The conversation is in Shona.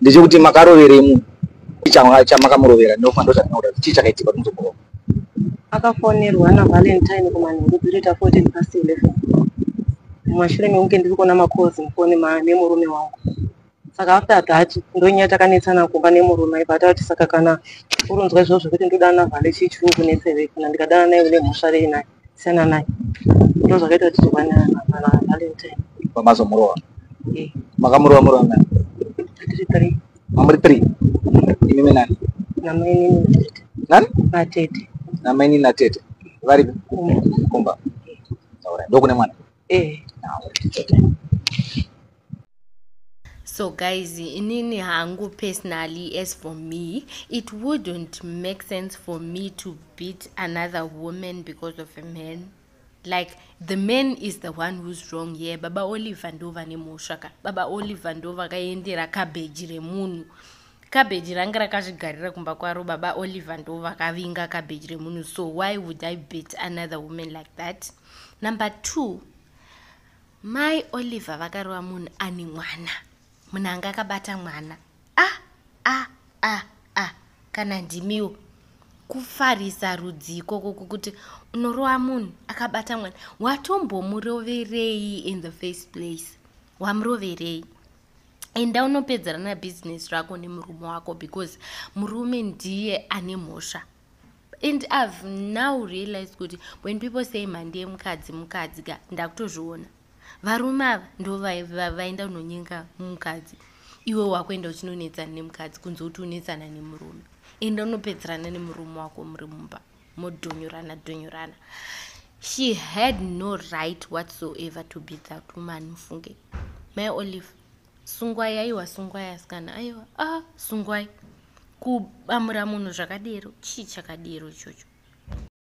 ndechekuti makaroverei munhu chamakamurovera ndofana ndozvatinoda kuti chii chakaitika kuti muzokurova akafonerwa navalentine kumanheru dzirita 14 past 11 mumashure mekunge ndiri kuona macols mufoni memurume wangu saka after that ndonyaya takanetsana kumba nemurume aiva atati saka kana uronzwa izvozvo zvekuti ndodana vale chii chiri kunetsevei kana ndikadana naye une mhosva rei naye siyana naye ndozvakaita kuti tibane kana valentine pamazomurova eh. makamurova murova nani tiri three mamuri three imimi nani namainini natete nani natete namainini natete varipi kumba ndokune mwana eh, so guys inini hangu personally as for me it wouldn't make sense for me to beat another woman because of a man like the man is the one who's wrong here baba oliver ndo vane mhosva ka baba oliver ndo vakaendera kabheji remunhu Cabbage range rakazvigarira kumba kwaro baba Oliver ndo vakavinga cabbage remunhu so why would I beat another woman like that? Number two, mai Oliver vakarova munhu ane mwana. Munhu anga akabata mwana. Ah, ah, ah, ah, kana ndimiwo. Kufarisa rudzi ikoko kukuti unorowa munhu akabata mwana. Watombomuroverei in the first place? Wamuroverei? enda unopedzerana business rako nemurume wako because murume ndiye ane mhosva and i've now realized kuti when people say mhandi yemukadzi mukadzi ka ndakutozviona varume ava ndo vaenda unonyenga mukadzi iwe wakuenda uchinonetsana nemukadzi kunze kuti unetsana nemurume enda unopedzerana nemurume wako muri mumba modhunyurana dhunyurana she had no right whatsoever to be that woman mufunge mai olive sungwai aiwa sungwai asikana aiwa a ah, sungwai kubamura munhu zvakadero chii chakadero ichocho